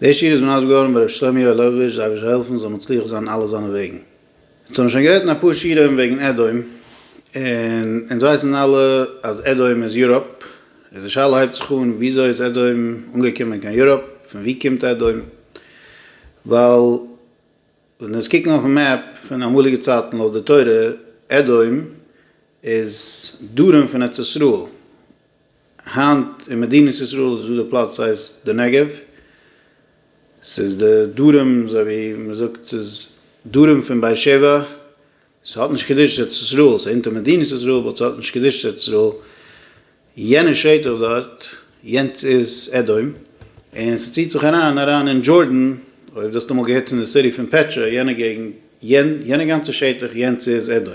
דער שיעור איז מנדב געווארן ביי ר' שלומיאל לעבאוויטש זיי וועט העלפן זאל מצליח זיין אלע זיינע וועגן. אונז האבן שוין גערעדט אין אפאר שיעורים וועגן אדום, און אונז ווייסן אלע אז אדום איז יוראפ, איז די שאלה הייבט זיך אן וויאזוי איז אדום אנגעקומען קיין יוראפ, פון ווי קומט אדום, ווייל ווען אונז קוקן אויפן מעפ פון אמאליגע צייטן לויט די תורה אדום איז דרום פון ארץ ישראל, היינט אין מדינת ישראל איז דא די פלאץ הייסט די נגב, ס'איז די דרום אזוי ווי מען זאגט ס'איז דרום פון באר שבע, ס'האט נישט קדושת ארץ ישראל, ס'איז אונטער מדינת ישראל באט ס'האט נישט קדושת ארץ ישראל, יענע שטח דארט יענץ איז עדום, און ס'ציט זיך אריין אריין אין דזשארדען, אויב דו האסט אמאל געהערט פון די סיטי פון פעטשע, יענע געגנט יענע גאנצע שטח יענץ איז עדום.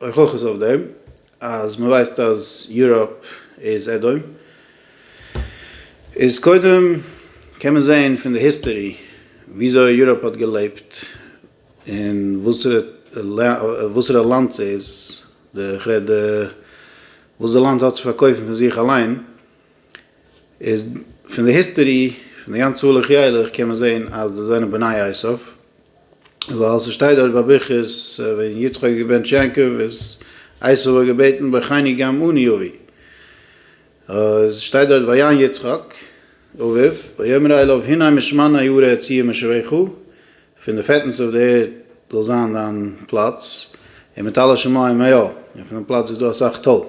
אויך אויך איז אויף דעם אז מען ווייסט אז יוראפ איז עדום, איז קודם קען מען זעהן פון די היסטערי וויאזוי יוראפ האט געלעבט און וואסערע לאנד ס'איז, כ'רעד וואס די לאנד האט צו פארקויפן פון זיך אליין, איז פון די היסטערי פון די גאנצע הלוך ילך קען מען זעהן אז זיי זענען בני עשיו, ווייל ס'שטייט דארט ביי ברכות ווען יצחק איז געבענטש יעקב איז עשיו האט געבעטן ברכני גם אני אבי, איז שטייט דארט ויען יצחק אביו ויאמר אליו הנה משמנה יראה ציה משבחו, פון די פעטנס אויף די ערד זאל זיין דיין פלאץ, און מיט אלע שמים היו, און פון דעם פלאץ וואו איז דא אסאך טל.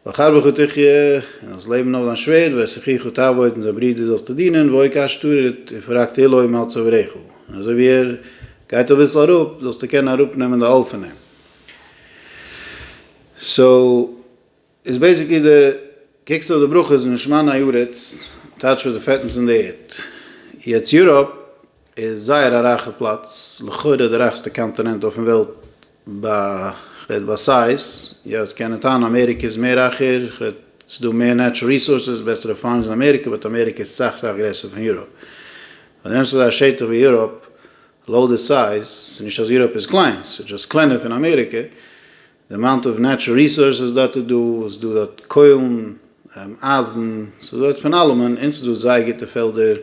וחרבך תחיה, און זאלסט לעבן אויף דיין שווערד, ואת אחיך תעבוד, און זיין ברודער זאלסטו דינען, והוי כאשתורית, און פון רק תהילה מעל צוואריך, און אזוי ווי ער גייט אביסל אראפ, זאלסטו קענען אראפנעמען די עול פון אים. סאו. איז בעיסיקלי די קוקסט אויף די ברכות משמין הארץ טייטש וואס די פעטנס אין די ערד יעצט יוראפ איז זייער א רייכע פלאץ לכאורה די רייכסטע קאנטינענט אויפן וועלט ביי כ'רעד ביי סייז יא ס'קען מען טענה'ן אמעריקע איז מער רייכער כ'רעד ס'איז דא מער נעטשרעל ריסארסעס בעסערע פארמס אין אמעריקע באט אמעריקע איז סאך סאך גרעסער פון יוראפ אויב די נעמסט אזא שטח ווי יוראפ לויט די סייז ס'נישט אז יוראפ איז קליין ס'איז דזשאסט קלענער פון אמעריקע די אמאונט אוו נעטשור ריסארסעס דארט איז דא, עס איז דא דארט קוילן, אייזן, עס איז דארט פון אלעמען, און עס איז דא זייער גוטע פעלדער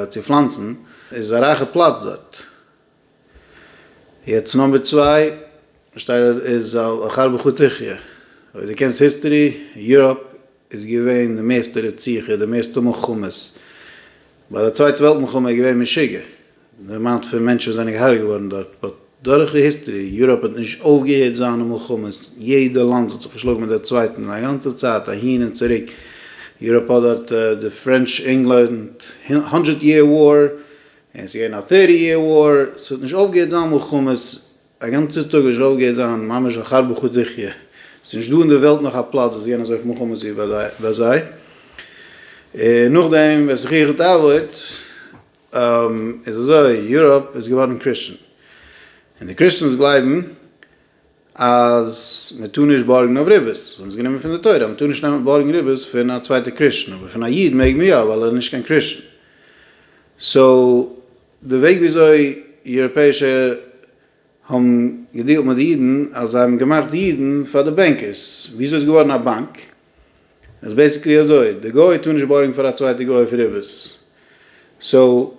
צו פלאנצן, עס איז א רייכע פלאץ דארט. יעצט נאמבער צוויי שטייט דארט איז על אחר בכור תחיה, אויב דו קענסט היסטערי, יוראפ איז געווען די מערסטע רציחה, די מערסטע מלחמות, ביי די צווייטע וועלט מלחמה איז געווען משוגע די אמאונט פון מענטשן וואס זענען געהארגעט געווארן דארט, באט דורך די היסטערי, יוראפ האט נישט אויפגעהערט זיינע מלחמות, יעדע לאנד האט זיך געשלאגן מיט די צווייטן א גאנצע צייט אהין און צוריק, יוראפ האט דארט די פרענטש ענגלאנד הונדרעט יער וואר, און עס איז געווען א טערטי יער וואר, ס'האט נישט אויפגעהערט זיין מלחמות, א גאנצע טאג איז שוואלף גייט זיין ממש אחר בחוטיכיה, ס'איז נישט דא אין די וועלט נאך א פלאץ וואס יענע זויפן חמץ ווי ביי זיי, און נאכדעם וועסט זיך איך התעוור'ט, איז אזוי, יוראפ איז געווארן קריסטשען, און די קריסטשענס גלייבן אז מען טאר נישט בארגן אויף ריבית, זיי האבן עס גענומען פון די תורה אז מען טאר נישט נעמען בארגן ריבית פון א צווייטע קריסטשען, אבער פון א איד מעג מען יא ווייל ער איז נישט קיין קריסטשען, סאו די וועג וויאזוי יוראפעישע האבן געדיעלט מיט די אידן אז זיי האבן געמאכט די אידן פאר די בענקערס, וויאזוי איז געווארן א באנק? איז בעסיקלי אזוי, די גוי טאר נישט בארגן פאר א צווייטע גוי אויף ריבית, סאו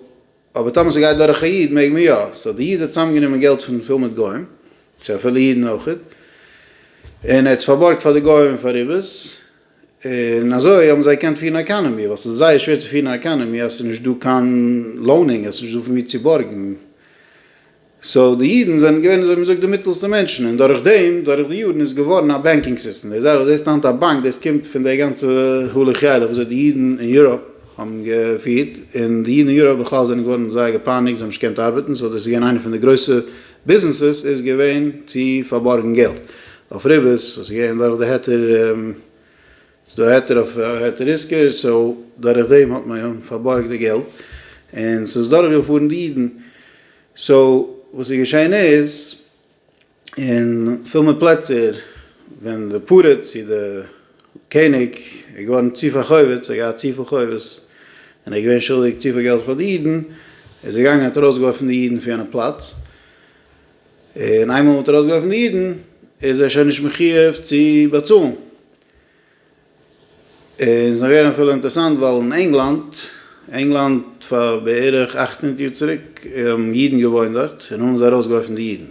אבער טאמער ס'גייט דורך א איד מעג מען יא, סאו די איד האט צוזאמגענומען געלט פון פול מיט גוים, צו אפילו אידן אויכעט, און ער האט עס פארבארגט פאר די גוים פאר ריבית, און אזוי האבן זיי געקענט פירן א עקאנעמי, ווייל ס'איז זייער שווער צו פירן א עקאנעמי אז ס'איז נישט דא קיין לאונינג, אז ס'איז נישט דא פון ווי צו בארגן. סאו די אידן זענען געווען אזוי ווי מ'זאגט די מיטעלסטע מענטשן, און דורך דעם, דורך די יארן איז געווארן א בענקינג סיסטעם. די זאך וואס דו זעסט היינט א באנק, דאס קומט פון די גאנצע הלוך ילך וואס אזוי די אידן אין יוראפ האבן געפירט, און די אידן אין יוראפ בכלל זענען געווארן זייער געפייניגט, זיי האבן נישט געקענט ארבעטן, סאו דאס איז געווען איינע פון די גרויסע ביזנעסעס איז געווען צו פארבארגן געלט אויף ריבית, עס איז געווען דורך די היתר, עס איז דא היתר אויף היתר עיסקא, סאו דורך דעם האט מען פארבארגט די געלט, און עס איז דורך געפארן די אידן, סאו וואס איז געשען איז, אין פיל מער פלעצער ווען די פארעט צו די קעניג, ער איז געווארן צו פארכויבעט, ער האט געהאט צופיל חובות, און ער איז געווען שולדיג צופיל געלט פאר די אידן, ער איז געגאנגען האט ארויסגעווארפן די אידן פון יענע פלאץ, און איינמאל מען האט ארויסגעווארפן די אידן איז ער שוין נישט מחיוב צו באצאלן, און ס'איז נאך געווען אפילו אינטערעסאנט ווייל אין ענגלאנד, ענגלאנד פאר בערך אַכט הונדערט יאר צוריק האבן אידן געוואוינט דארט, און האבן זיי ארויסגעווארפן די אידן,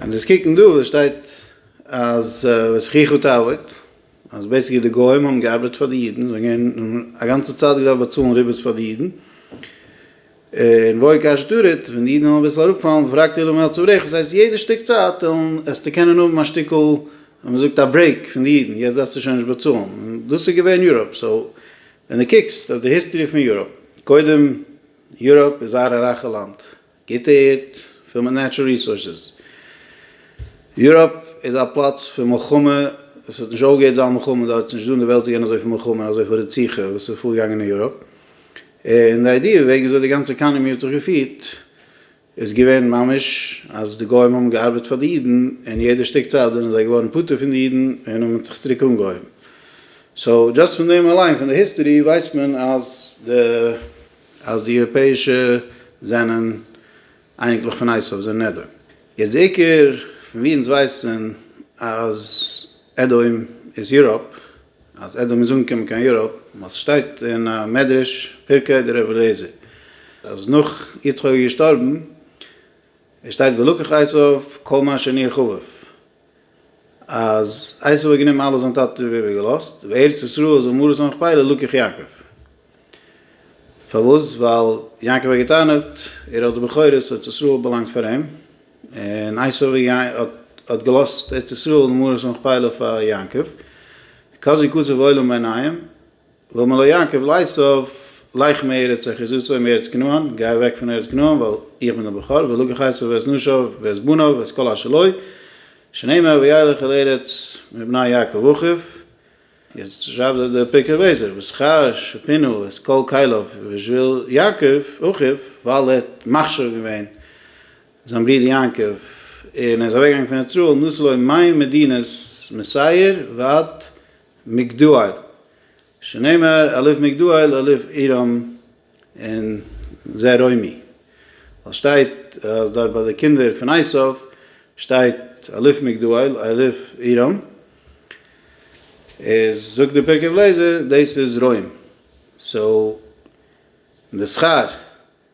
און דאס קוקן דא וואס שטייט אז וזכיחו תעבוד, אז בעיסיקלי די גוים האבן געארבעט פאר די אידן, זיי האבן געווען א גאנצע צייט געדארפט באצאלן ריבית פאר די אידן, און ואוי קש תרעד, ווען די אידן וועלן אביסל אראפפאלן ופרקת אילם אל צווארך, דאס הייסט יעדע שטיק צייט העסטו קענען האבן א שטיקל ווי מען זאגט א ברעיק פון די אידן, יעצט דארפסטו שוין נישט באצאלן, און דאס איז געווען יוראפ, סאו ווען די קוקסט אויף די היסטערי פון יוראפ, קודם יוראפ איז זייער א רייכע לאנד, גוט ערד פול מיט נעטשרעל ריסארסעס. יוראפ איז א פלאץ פון מלחמה, עס האט נישט אויפגעהערט זיין מלחמה דארט, ס'נישט דא אין די וועלט צו געבן אזויפיל מלחמה און אזויפיל רציחה וואס איז פארגעגאנגען אין יוראפ, און די איידיע וועגן וויאזוי די גאנצע עקאנעמי האט זיך געפירט איז געווען ממש אז די גוים האבן געארבעט פאר די אידן און יעדע שטיק צייט זענען זיי געווארן פטור פון די אידן און האבן זיך צוריק אנגעהויבן. סאו דזשאסט פון דעם אליין פון די היסטערי ווייסט מען אז די אז די אירופעישע זענען אייניקלעך פון עשיו, זענען נעדר. יעצט די עיקר, פון ווי אונז ווייסן אז אדום איז יוראפ, אז אדום איז אנגעקומען קיין יוראפ, ווייל ס'שטייט אין א מדרש, פרקי דר' רבי אליעזר, אז נאך יצחק איז געשטארבן, עס שטייט וילקח עשיו כל מה שני חביב, אז עשו האט גענומען אלעס זיין טאטע האט איבער געלאזט, וארץ ישראל זאל מרת המכפלה לקח יעקב. פארוואס? ווייל יעקב האט געטענה'ט ער האט די בכורות, ארץ ישראל באלאנגט פאר אים, און עשו האט האט געלאזט ארץ ישראל מרת המכפלה פאר יעקב, כזו קצב עולם בעיניים. ואמר לו יעקב לעשו לך מארץ אחיזתו מארץ כנען, גיי אוועק פון ארץ כנען ווייל איך בין דער בכור, ולקח עשו ואת נשיו ואת בניו ואת כל אשר לו, שנאמר וילך אל ארץ מבני יעקב אחיו, יעצט שרייבט דער פרקי אביעזר ושכר שפינו את כל כליו בשביל יעקב אחיו, ווייל ער האט מכשיר געווען זיין ברודער יעקב און ער איז אוועק געגאנגען פון ארץ ישראל נאסלוי מים מדינת מסעיר ועד מגדול, שנאמר אליו מגדול אליו עירום און זה רומי, ווייל שטייט אז דארט ביי די קינדער פון עשיו שטייט אליו מגדול אליו עירום, איז זאגט די פרקי אליעזר דאס איז רוים, סאו די שכר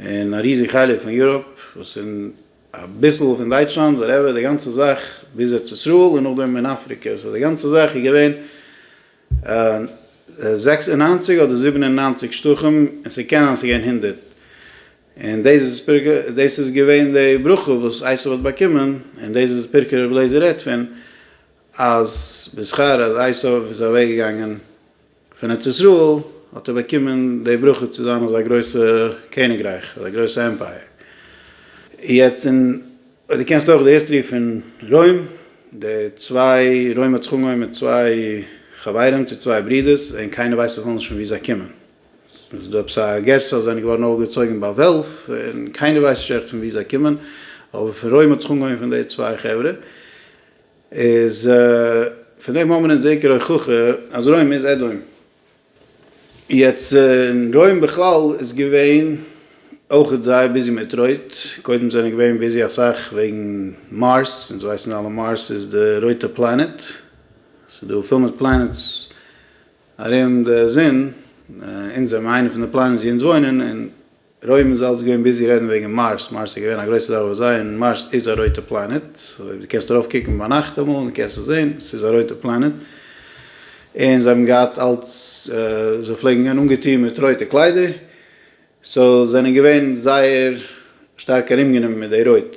און א ריזיג חלק פון יוראפ, וואס און אביסל פון דייטשלאנד, וואטעווער, די גאנצע זאך ביז ארץ ישראל און נאכדעם און אפריקע, סאו די גאנצע זאך איז געווען זעקס און נײַנציק אדער זיבן און נײַנציק שטחים, און ס'קען זיין אז ס'איז געווען הונדערט, און דאס איז פרק א, דאס איז געווען די ברכה וואס עשיו האט באקומען, און דאס איז פרק רבי אליעזר רעדט פון, אז בשכר אז עשיו איז אוועקגעגאנגען פון ארץ ישראל האט ער באקומען די ברכה צו זיין אזא גרויסע קעניגרייך, אזא גרויסע עמפייער. יעצט אין, דו קענסט אויך די היסטערי פון רוים, די צוויי, רוים האט זיך אנגעהויבן מיט צוויי חברים צו צוויי ברודערס, און קיינער ווייסט בכלל נישט פון וואו זיי קומען. ס'איז דא עפעס א גרסה אז זיי זענען געווארן אויפגעצויגן ביי וועלף, און קיינער ווייסט נישט עכט פון וואו זיי קומען, אבער פון רוים האט זיך אנגעהויבן פון די צוויי חברה. איז פון דעם האבן אונז די עיקר הוכחה אז רוים איז אדום. יעצט אין רוים בכלל איז געווען אויך זייער ביזי מיט רויט, קודם זענען געווען ביזי אסאך וועגן מארס, אונז ווייסן אלע מארס איז די רויטע פלאנעט, ס'איז דא פיל מיט פלאנעטס ארום די זון, אונז זענען איינע פון די פלאנעטס ווי אונז וואוינען, און רוימ איז אלס געווען ביזי רעדן וועגן מארס, מארס איז געווען א גרויסע זאך ביי זיי, און מארס איז א רויטע פלאנעט, דו קענסט ארויף קוקן ביינאכט אמאל און דו קענסט עס זען, עס איז א רויטע פלאנעט, און זיי האבן געהאט אלס, זיי פלעגן גיין אנגעטון מיט רויטע קליידער, סאו זענען געווען זייער שטארק ארומגענומען מיט די רויט.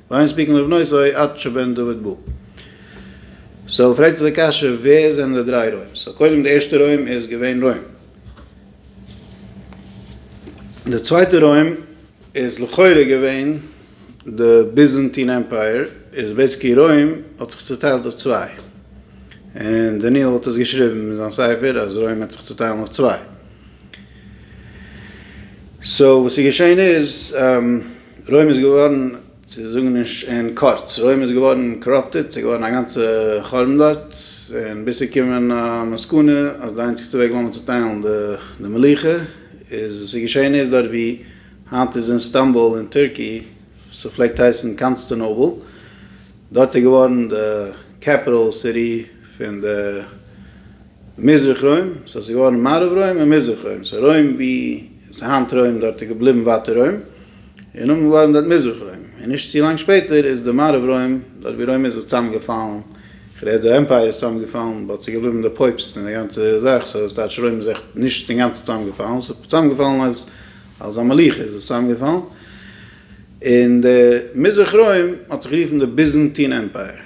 ואין ספיקין לבנותו עד שבן דוד בא. סאו פרעגט זיך די קשיא ווער זענען די דריי רוים? סאו קודם די ערשטע רוים איז געווען רוים. די צווייטע רוים איז לכאורה געווען די ביזענטין עמפייער, איז בעיסיקלי רוים האט זיך צוטיילט אויף צוויי, און דניאל האט עס געשריבן אין זיין ספר אז רוים וועט זיך צוטיילן אויף צוויי. סאו וואס איז געשען איז. רוים איז געווארן, צו זאגן נישט אין קורץ, רוים איז געווארן קאראפטעד, ס'איז געווארן א גאנצע חורבן דארט, און ביז צו קומען א מסקנא אז די איינציגסטע וועג ווילן מיר צוטיילן די מלוכה, איז וואס איז געשען איז דארט ווי היינט איז אין סטאמבול אין טורקי, ס'פלעגט הייסן קאנסטענאבל, דארט איז געווארן די קעפיטעל סיטי פון די. מזרח רוים, ס'האט זיך געווארן מערב רוים און מזרח רוים, סאו רוים ווי ס'איז היינט רוים דארט איז געבליבן ווייטער רוים, און נאמען געווארן דארט מזרח רוים, און נישט צו לאנג שפעטער איז די מערב רוים, דארט ווי רוים איז איז צוזאם געפאלן, כ'רעד די עמפייער איז צוזאם געפאלן, באט ס'איז געבליבן די פויבסט און די גאנצע זאך, סאו וואס טייטש רוים איז עכט נישט אינגאנצן צוזאם געפאלן, ס'איז צוזאם געפאלן אז אלס א מלוכה איז עס צוזאם געפאלן, און די מזרח רוים האט זיך גערופן די ביזענטין עמפייער.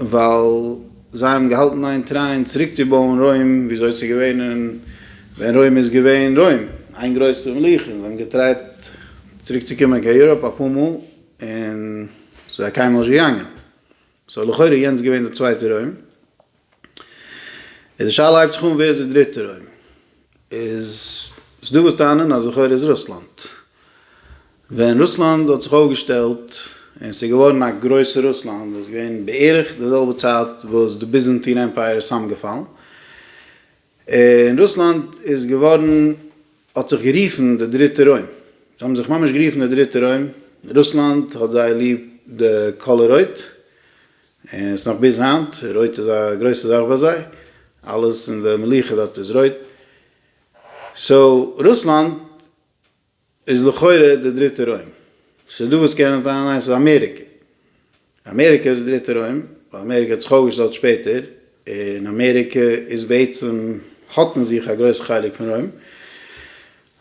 ווייל זיי האבן געהאלטן איין טריין צוריק צו בויען רוים וויאזוי ס'איז געווען ווען רוים איז געווען רוים, איין גרויסע מלוכה, זיי האבן געטרייט צוריק צו קומען קיין יוראפ אפאר מאל און ס'איז זיי קיינמאל נישט געגאנגען, סאו לכאורה איז יענץ געווען די צווייטע רוים. איז די שאלה הייבט זיך אן ווער איז די דריטע רוים? איז ס'דא וואס טענה'ן אז לכאורה איז רוסלאנד. ווען רוסלאנד האט זיך אויפגעשטעלט און ס'איז געווארן א גרויסע רוסלאנד איז געווען בערך די זעלבע צייט וואס די ביזענטין עמפייער איז צאמגעפאלן. און רוסלאנד איז געווארן, האט זיך גערופן די דריטע רוים. זיי האבן זיך ממש גערופן די דריטע רוים. רוסלאנד האט זייער ליב די קאלער רויט, און עס איז נאך ביז היינט, רויט איז א גרויסע זאך ביי זיי, אלעס אין די מלוכה דארט איז רויט. סאו רוסלאנד. איז לכאורה די דריטע רוים. ס'איז דא וואס קענען טענה'ן ניין ס'איז אמעריקע. אמעריקע איז די דריטע רוים, ווייל אמעריקע האט זיך אויפגעשטעלט שפעטער, און אמעריקע איז בעצם האט אין זיך א גרויסע חלק פון רוים.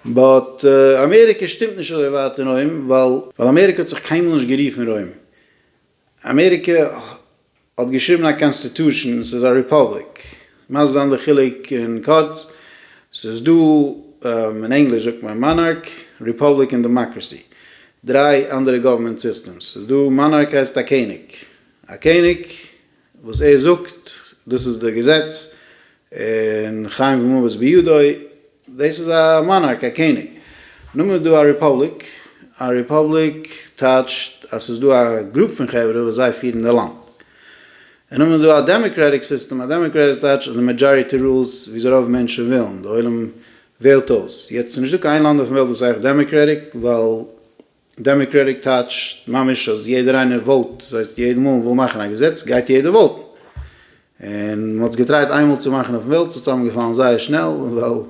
באט אמעריקע שטימט נישט אזוי ווייט אין רוים, ווייל אמעריקע האט זיך קיינמאל נישט גערופן רוים. אמעריקע האט געשריבן א קאנסטיטושען, עס איז א ריפאבליק. מיינסט דאן די חילוק אין קורץ? עס איז דא, אין ענגליש זאגט מען מאנארק, ריפאבליק און דעמאקראסי. דריי אנדערע גאווערמענט סיסטעמס. עס איז דא, מאנארק הייסט א קעניג. א קעניג, וואס ער זאגט, דאס איז די געזעץ, און חיים ומוות בידו, דאס איז א מאנארק, א קעניג. נאר מען איז דא א רעפאבליק, א רעפאבליק טייטשט אז ס'איז דא א גרופ פון חברה וואס זיי פירן די לאנד. און נאר מען איז דא א דעמעקרעטיק סיסטעם, א דעמעקרעטיק טייטשט אז די מעדזשאריטי רולס וויאזוי רוב מענטשן ווילן, די עולם וועלט אויס. יעצט ס'איז נישטא קיין איין לאנד אויפן וועלט וואס הייסט דעמעקרעטיק, ווייל דעמעקרעטיק טייטשט ממש אז יעדער איינער וואוט, דאס הייסט יעדע מאל מ'וויל מאכן א געזעץ גייט יעדער וואוטן, און מ'האט עס געטרייט איינמאל צו מאכן אויפן וועלט, ס'האט צוזאמגעפאלן זייער שנעל, ווייל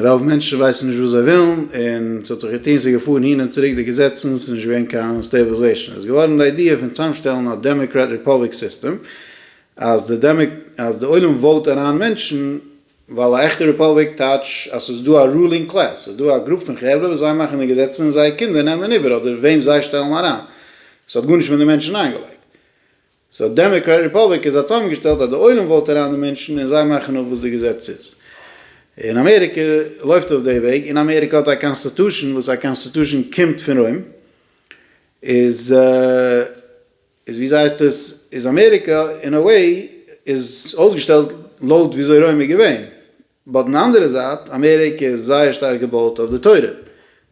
רוב מענטשן ווייסן נישט וואס זיי ווילן, און ס'האט זיך געטון, ס'איז געפארן הין און צוריק די געזעצן, ס'איז נישט געווען קיין סטעיבעלזעישאן, איז געווארן די איידיע פון צוזאמשטעלן א דעמעקרעט ריפאבליק סיסטעם, אז די עולם וואוט אריין מענטשן, ווייל א עכטע רעפאבליק טייטש אז ס'איז דא א רולינג קלעס, ס'איז דא א גרופ פון חברה וואס זיי מאכן די געזעצן און זייער קינדער נעמען איבער אדער וועם זיי שטעלן אריין, ס'האט גארנישט מיט די מענטשן איינגעלייגט. סאו דעמעקרעט רעפאבליק איז א צאמגעשטעלט אז די עולם וואוט אריין די מענטשן און זיי מאכן אפ וואס די געזעץ איז. און אמעריקע לויפט אויף די וועג, און אמעריקע האט א קאנסטעטושען וואס א קאנסטעטושען קומט פון רוים, איז. איז ווי אזוי הייסט עס איז אמעריקע אין א וועי איז אויסגעשטעלט לויט ווי אזוי רוים איז געווען, באט אין די אנדערע זייט אמעריקע איז זייער שטארק געבויט אויף די תורה,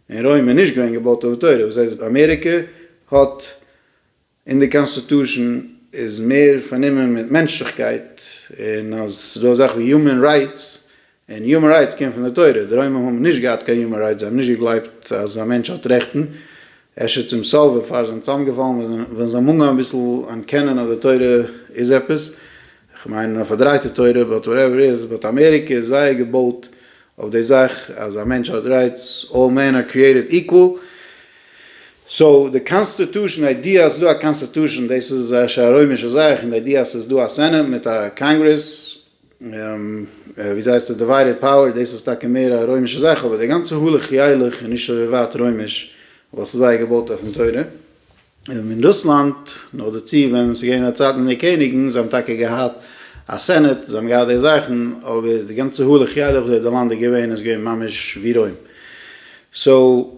און רוים איז נישט געווען געבויט אויף די תורה, וואס הייסט אמעריקע האט אין די קאנסטיטושען איז מער פארנומען מיט מענטשליכקייט, און אז ס'איז דא אזאך ווי יומען רייטס און יומען רייטס קומט פון די תורה, די רוימער האבן נישט געהאט קיין יומען רייטס, זיי האבן נישט געגלייבט אז א מענטש האט רעכטן, אפשר צום סוף בעפאר זיי זענען צוזאמגעפאלן ווען זיי האבן אנגעהויבן אביסל אנערקענען אז די תורה איז עפעס, כ'מיין א פארדרייטע תורה, באט וואטעווער איט איז, באט אמעריקע איז זייער געבויט אויף די זאך אז א מענטש האט רייטס, אלל מען אר קריעטעד איקוואל, סאו די קאנסטעטושען, די איידיע אז ס'דא א קאנסטעטושען דאס איז אפשר א רוימישע זאך, און די איידיע אז ס'איז דא א סענעט מיט א קאנגרעס, וויאזוי הייסט עס? דיוויידעד פאוער, דאס איז טאקע מער א רוימישע זאך, אבער די גאנצע הלך ילך איז נישט אזוי ווייט רוימיש, ווייל ס'איז זייער געבויט אויפן תורה. אין רוסלאנד, נאכדערצו ווען ס'איז געווען א צייט מיט די קעניגן, זיי האבן טאקע געהאט א סענעט, זיי האבן געהאט די זאכן, אבער די גאנצע הלך ילך וואס די האט די לאנד איז געווען, איז געווען ממש ווי רוים. סאו.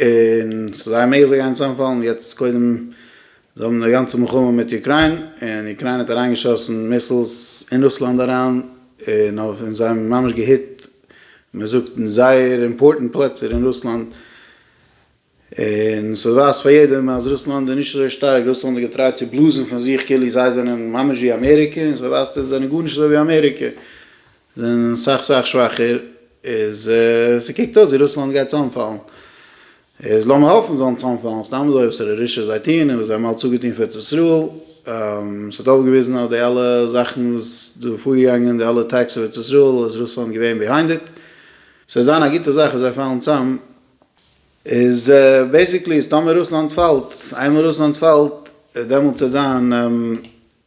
און ס'איז זייער מעגליך זיי גייען צוזאמפאלן, יעצט קודם זיי האבן די גאנצע מלחמה מיט אוקריין און אוקריינע האט אריינגעשאסן מיסלס אין רוסלאנד אריין און אויף און זיי האבן ממש געהיט מען זאגט אין זייער אימפארטענט פלעצער אין רוסלאנד און ס'ווייזט פאר יעדעם אז רוסלאנד איז נישט אזוי שטארק, רוסלאנד האט געטרייט צו בלאזן פון זיך כאילו זיי זענען ממש ווי אמעריקע און ס'ווייזט אז זיי זענען גארנישט אזוי ווי אמעריקע זענען סאך סאך שוואכער, איז ס'קוקט אויס ווי רוסלאנד גייט צאמפאלן, איז לאמיר האפן זאלן צאמפאלן, סתם אזוי וואס רשע זיי טוען און וואס זיי האבן אלץ אפגעטון פאר ארץ ישראל, ס'האט אויפגעוויזן אז די אלע זאכן וואס דא פארגעגאנגען, די אלע אטעקס אויף ארץ ישראל איז רוסלאנד געווען ביהיינד איט, ס'וועט זיין א גוטע זאך אז זיי פאלן צאם. איז בעיסיקלי איז טאמער רוסלאנד פאלט, איינמאל רוסלאנד פאלט דעמאלטס וועט זיין.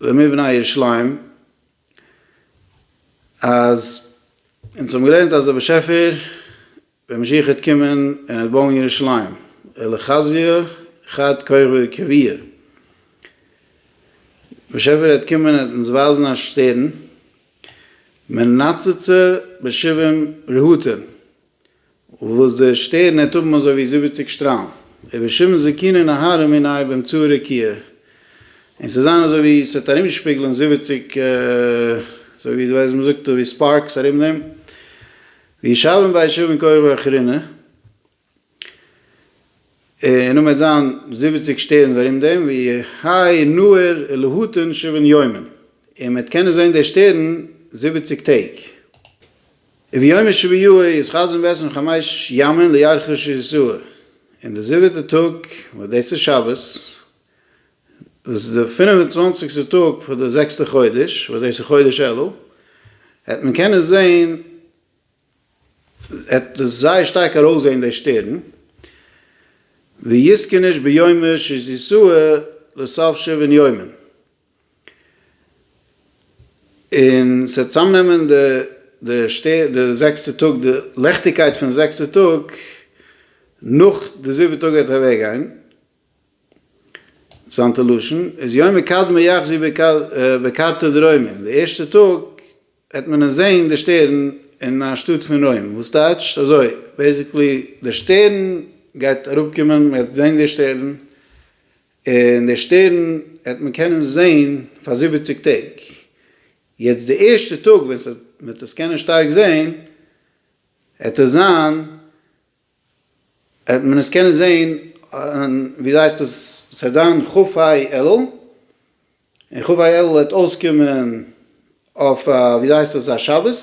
למבנה ירושלים אז אונז האבן געלערנט אז דער באשעפער ווען משיח העט קומען און ער העט בויען ירושלים אלא חזייה חד כרבי כביעי באשעפער העט קומען און ער העט אונז ווייזן א שטערן מנצצה בשבעים רהוטין. וואס דער שטערן העט האבן אזוי ווי זיבעציק שטראלן, איבער שמן זיתים און אהרן און איי ביים צאה רקיע, און ס'וועט זיין אזוי ווי ס'וועט ארומשפיגלען זיבעציק, אזוי ווי דו ווייסט, מ'זאגט ווי ספארקס ארום דעם, וישבון בה ישבון כוכבי אחרונה, און נאכדעם וועט זיין זיבעציק שטערנס ארום דעם, ווי האי נהר ולהותן שבעון יומין, און מ'וועט קענען זען דער שטערן זיבעציק טעג. וביום שביעי איז חזון בעשרים חמש ימים לירכוש ישוע, און די זיבעטע טאג וואס דאס איז שבת, וואס איז די פינף און צוואנציגסטע טאג פון די זעקסטע חודש, וואס דאס איז חודש אלול, העט מען קענען זען, העט דאס זייער שטארק ארויסזען די שטערן, ויזקניש ביום שישי ישוע לסוף שבעון יומים. און ס'וועט צוזאמנעמען די די שטער די זעקסטע טאג די לעכטיגקייט פון זעקסטע טאג נאך די זיבעטע טאג וועט ער אוועק גיין זיינטע לשון איז יומא קדמא יחזי בקרתא דרוימין די ערשטע טאג וועט מען עס זעהן די שטערן אין א שטאט פון רוים וואס טייטשט אזוי בעסיקלי די שטערן גייט אראפקומען מ'גייט זעהן די שטערן. און דער שטערן העט מען קענען זען פאר זיבעציג טעג, יעצט די ערשטע טאג ווען ס'וועט מ'וועט עס קענען שטארק זען העט עס זיין העט מען עס קענען זען און ווי הייסט עס ס'העט זיין כ א אלול, און כ א אלול העט אויסקומען אויף א ווי הייסט עס א שבת.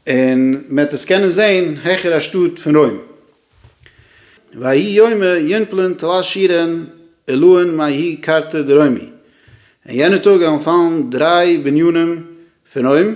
און מען האט עס קענען זעהן העכער א שטאט פון רוים. ויהי יומא יונפלן תלת שירין עילאין מאיהי קרתא דרוימי, און יענע טאג וועלן פאלן דריי בנינים פון רוים,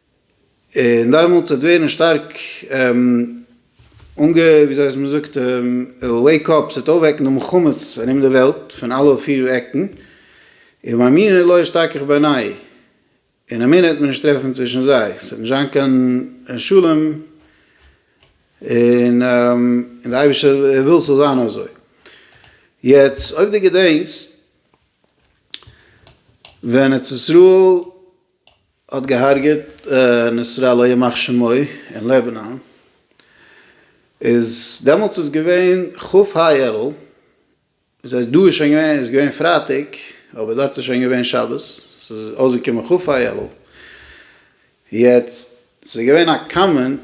און דעמאלטס וועט ווערן שטארק אנגע ווי זאגט מען זאגט וועיק אפ, ס'וועט אויפוועקן די מלחמות ארום די וועלט פון אלע פיר עקן, און מאמינים לא אשתכח בעניי, און אמינא וועט מען נישט טרעפן צווישן זיי, ס'וועט נישט זיין קיין שלום, און די אייבערשטער וויל ס'זאל זיין אזוי. יעצט אויב דו געדענקסט ווען ארץ ישראל האט געהארגעט נסראללה ימח שמו אין לעבענאן איז דעמאלטס איז געווען כ ה אלול זייט דא איז שוין געווען איז געווען פרייטאג אבער דארט איז שוין געווען שבת ס'איז אויסגעקומען כ ה אלול יעצט ס'איז געווען א קאמענט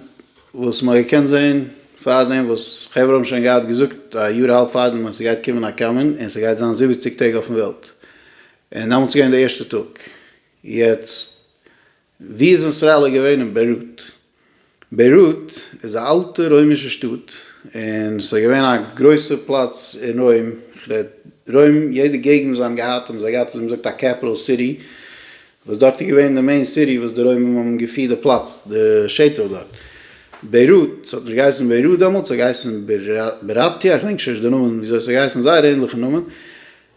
וואס מ'האט געקענט זעהן פארדעם וואס חברה האבן שוין געהאט געזאגט א יאר אהאלב פארדעם אז ס'גייט קומען א קאמענט און ס'גייט זיין זיבעציג טעג אויפן וועלט און דעמאלטס איז געווען די ערשטע טאג. יעצט, ווי איז איזראעל געווען אין ביירוט? ביירוט איז א אלטע רוימישע שטאט און סאיז געווען א גרויסע פלאץ אין רוים, איך רעד רוים יעדע געגנט וואס זיי האבן געהאט האבן זיי געהאט ווי מזאגט א קעפיטעל סיטי וואס דארט איז געווען די מעין סיטי וואס די רוימער האבן געפירט די פלאץ די שטח דארט. ביירוט, סהאט נישט געהייסן ביירוט דעמאלטס סהאט געהייסן בירתיה איך דענק שוין נישט די נאמען וויאזוי סהאט געהייסן זייער ענדליכע נאמען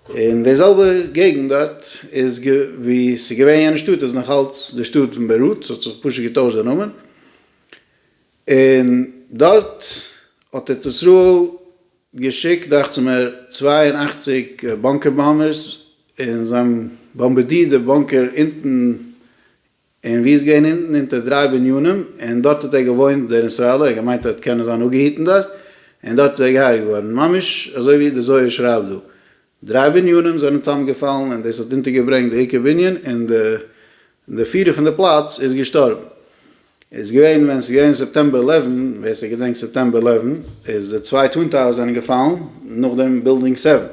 און די זעלבע געגנט דארט איז ווי ס'איז געווען יענע שטאט איז נאך אלץ די שטאט ביירוט, ס'האט זיך פשוט געטוישט די נאמען, און דארט האט ארץ ישראל געשיקט דאכט זיך מיר צוויי און אַכציק באנקער באמבערס און זיי האבן באמבערדירט די באנקער אונטן און ווי איז געווען אונטן אונטער דריי בנינים, און דארט האט ער געוואוינט דער נסראללער, ער האט געמיינט ער וועט קענען זיין אפגעהיטן דארט, און דארט איז ער געהרגעט געווארן, ממש אזוי ווי דער זוהר שרייבט דא, דריי בנינים זענען צוזאמגעפאלן און דאס האט אונטערגעברענגט די עיקר בנין, און דער פירער פון די פלאץ איז געשטארבן. איז געווען ווען עס איז געווען סעפטעמבער עלעווען, ווער ס'געדענקט סעפטעמבער עלעווען, איז די צוויי טווין טאוערס זענען געפאלן, נאכדעם בילדינג סעווען,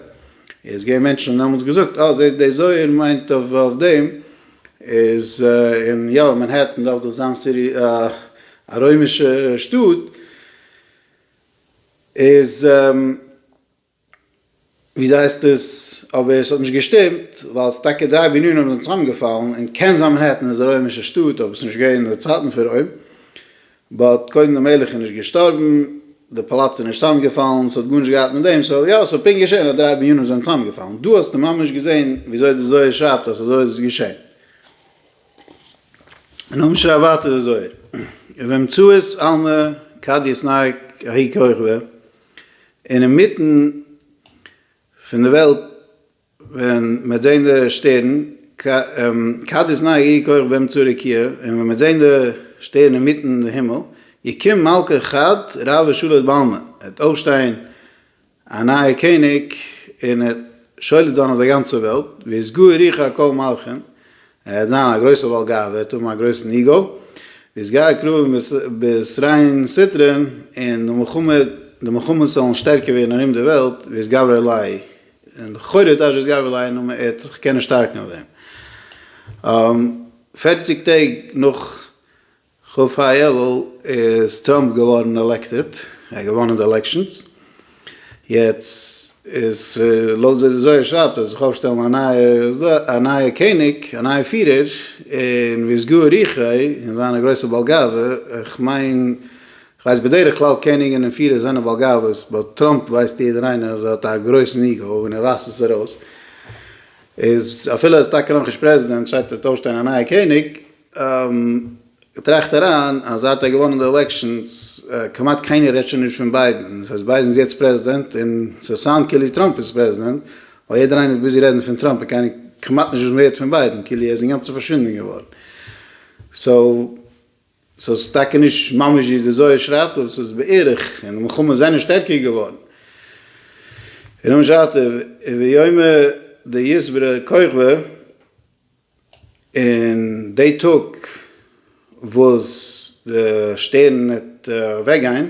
איז געווען מענטשן האבן דעמאלטס געזאגט, אה זעסט דער זוהר מיינט אויף דעם, איז אין יא מאנהעטן דארף דאך זיין סיטי א רוימישע שטאט איז וויאזוי הייסט עס אבער עס האט נישט געשטימט ווייל עס איז טאקע דריי בנינים וואס זענען צוזאמגעפאלן און קען זיין מאנהעטן איז א רוימישע שטאט אבער עס איז נישט געווען אין די צייטן פון רוים באט קודם די מלך איז נישט געשטארבן, די פאלאץ איז נישט צאמגעפאלן, ס'האט גארנישט געהאט מיט דעם, סאו יא ס'האט פונקט געשען אז דריי בנינים זענען צאמגעפאלן, דא האסטו ממש געזען וויאזוי די זוהר שרייבט אז אזוי איז עס געשען. און נאכדעם שרייבט ווייטער די זוהר, ובאמצעות עלמא קדיאס נהג ההיא כוכבא, און אינמיטן פון די וועלט, ווען מ'העט זעהן די שטערן, כד איז נאי איר כח ביים צורי קיה, און ווען מ'העט זעהן די שטערן אינמיטן די הימל, יקום מלכה כד רב ושולט בעלמא, עט אויפשטיין א נייע קעניג און עט שולט זיין אויף די גאנצע וועלט, וישגו ריחו על כל מלכין, ער עט זיין א גרויסע בעל גאוה, עט האבן א גרויסן איגו, וישגה הכרובים בישראין סטרין, און די מלחמות זאלן שטערקער ווערן ארום די וועלט, וישגבר עלי', און לכאורה איז דאשע איז גבר לעין און מען ער'ט זיך קענען שטארקן אויף דעם. פֿערציק טעג נאך ח ו אלול איז טראמפ געווארן עלעקטעד, ער האט געוואנען די עלעקשאנס, יעצט איז לויט ווי די זוהר שרייבט וועט זיך אויפשטעלן א נייע א נייע קעניג א נייע פירער, און ווי סגור ריחו און זיינע גרויסע בעל גאווה, איך מיין כ'ווייס בדרך כלל קעניגן און פירער זענען בעל גאוות, באט טראמפ ווייסט יעדער איינער אז ער האט א גרויסן איגאו און ער ווייזט עס ארויס, איז אפילו ער איז טאקע נאכנישט פרעזידענט שטייט ער וועט אויפשטיין א נייע קעניג, טראכט אריין אז זייט ער האט געוואנען די עלעקשאנס כמעט קיינער רעדט שוין נישט פון ביידען, דאס הייסט ביידען איז יעצט פרעזידענט און ס'וועט סאונד כאילו טראמפ איז פרעזידענט, ווייל יעדער איינער איז ביזי רעדן פון טראמפ און קיינער כמעט נישט וואס מ'הערט פון ביידען, כאילו ער איז אינגאנצן פארשווינדען געווארן, סאו. ס'איז טאקע נישט ממש ווי די זוהר שרייבט אבער ס'איז בערך, און די מלחמות זענען שטערקער געווארן. און אום שעת ויאמר די יסברא כוכבא, און די טאג וואס די שטערן וועט אוועקגיין,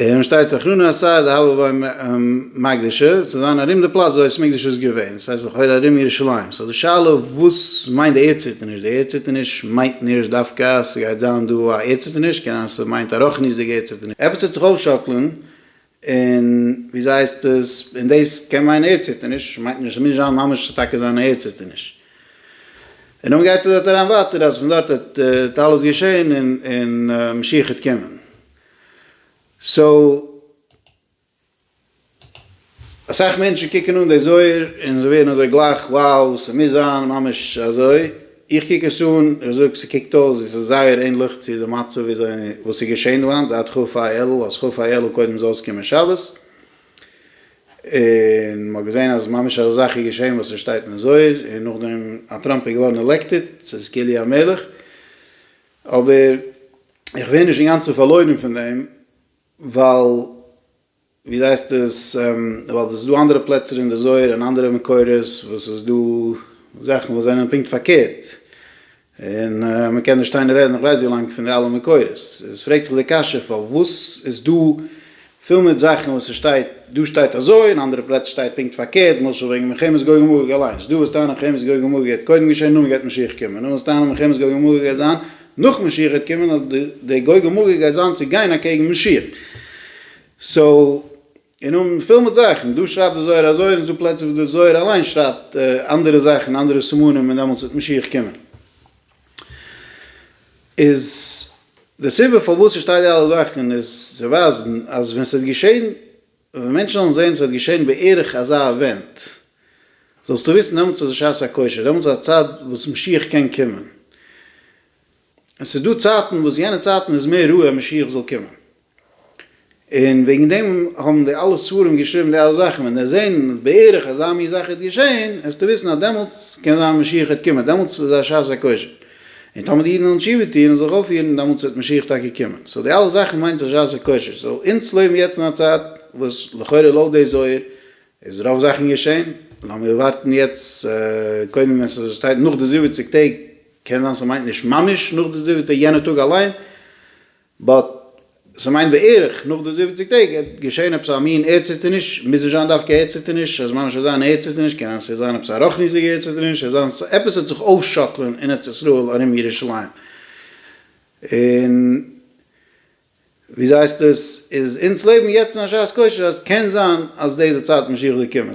און שטייט סכנא אסאר דהוה ביים מקדש ה צו זיין ארום די פלאץ וואו בית המקדש איז געווען, דאס הייסט לכאורה ארום ירושלים, סאו די שאלה וואס מיינט די ערדציטערניש, די ערדציטערניש מיינט נישט דווקא אז ס'גייט זיין דא א ערדציטערניש, קען זיין ס'מיינט א רוחניות'דיגע ערדציטערניש, עפעס וועט זיך אויפשאקלען, און וויאזוי הייסט עס, און דאס קען מיינען ערדציטערניש, מיינט נישט, ס'מוז נישט זיין ממש טאקע זיין א ערדציטערניש. און נאך גייט ער דארט אריין ווייטער אז פון דארט האט אלעס געשעהן און משיח העט קומען. סאו אסאך מענטשן קוקן אן די זוהר און זיי ווערן אזוי גלייך wow ס'מוז זיין ממש אזוי, איך קוק עס אן איך זאג ס'קוקט אויס ווי ס'איז זייער ענליך צו די מצב ווי אזוי וואס איז געשעהן דא היינט זייט כ א אלול אז כ א אלול קודם זאל עס קומען שבת. און מ'האט געזעהן אז ממש אזא זאך איז געשעהן וואס ס'שטייט אין זוהר, און נאכדעם אז טראמפ איז געווארן עלעקטעד, ס'איז כאלי' המלך, אבער איך ווער נישט אינגאנצן פארלוירן פון דעם, ווייל ווי זעהסט עס, ווייל עס איז דא אנדערע פלעצער אין די זוהר און אנדערע מקורות וואס ס'איז דא זאכן וואס זענען פונקט פארקערט, און מען קען נישט שטיין און רעדן איך ווייס ווי לאנג פון די אלע מקורות, עס פרעגט זיך די קשיא פארוואס איז דא פיל מיט זאכן וואס עס שטייט דא שטייט אזוי און אנדערע פלעצער שטייט פונקט פארקערט, למשל וועגן מלחמת גוג ומגוג אליינס, דו וועסט טענה'ן מלחמת גוג ומגוג גייט קודם געשען נאכדעם גייט משיח קומען, דו וועסט טענה'ן מלחמת גוג ומגוג גייט זיין נאך משיח גייט קומען, די גוג ומגוג גייט זיין צו גיין אקעגן משיח, סאו. און נאך פיל מיט זאכן, דא שרייבט די זוהר אזוי, און ס'דא פלעצער וואס די זוהר אליין שרייבט אנדערע זאכן, אנדערע סימנים און דעמאלטס וועט משיח קומען. איז די סיבה פארוואס ס'שטייט די אלע זאכן איז צו ווייזן אז ווען ס'וועט געשען, ווען מענטשן וועלן זען ס'וועט געשען בערך אזא אווענט, זאלסטו וויסן דעמאלטס איז שעת הכושר, דעמאלטס איז א צייט וואס משיח קען קומען. און ס'איז דא צייטן וואס יענע צייטן איז מער רואה משיח זאל קומען. און וועגן דעם האבן די אלע ספרים געשריבן די אלע זאכן, ווען די זעהן בערך אזא מין זאך איז געשעהן, העסטו וויסן אז דעמאלטס קען זיין משיח העט קומען, דעמאלטס איז א שעת הכושר, און טאמער די אידן וועלן תשובה טוהן און זיך אויפפירן, דעמאלטס וועט משיח טאקע קומען, סאו די אלע זאכן מיינט א שעת הכושר, סאו אונז לעבן יעצט אין א צייט וואס לכאורה לויט די זוהר איז רוב זאכן געשעהן, לאמיר ווארטן יעצט קודם ווען ס'שטייט נאך די זיבעציג טעג, קען זיין ס'מיינט נישט ממש נאך די זיבעטע יענע טאג אליין. באט ס'מיינט בערך נאך די זיבעציג טעג עט געשען עפעס א מין ערדציטערניש, מוז נישט זיין דווקא ערדציטערניש, אז ממש אזא מין ערדציטערניש, קען זיין ס'עט זיין עפעס א רוחניות'דיגע ערדציטערניש, עט זיין עפעס עט זיך אויפשאקלען אין ארץ ישראל ארום ירושלים, און ווי זייסט עס איז אונז לעבן יעצט אין א שעת כושר אז קען זיין אז דאס איז די צייט משיח זאל קומען.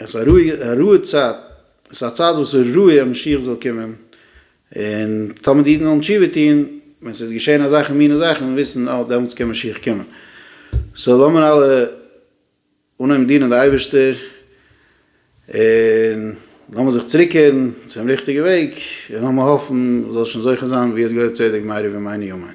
עס איז א רואיגע א רואיגע צייט, עס איז א צייט וואס איז רואיג אז משיח זאל קומען, און טאמער די אידן וועלן תשובה טון, ווען ס'וועט געשען אזעלכע מיני זאכן, וועט מען וויסן אה דעמאלטס קען משיח קומען. סאו לאמיר אלע אנהויבן דינען די אייבערשטער, און לאמיר זיך צוריקקערן צום ריכטיגע וועג, און לאמיר האפן מ'זאל שוין זוכה זיין ביאת גואל צדק מהרי ו מאי ניומאין.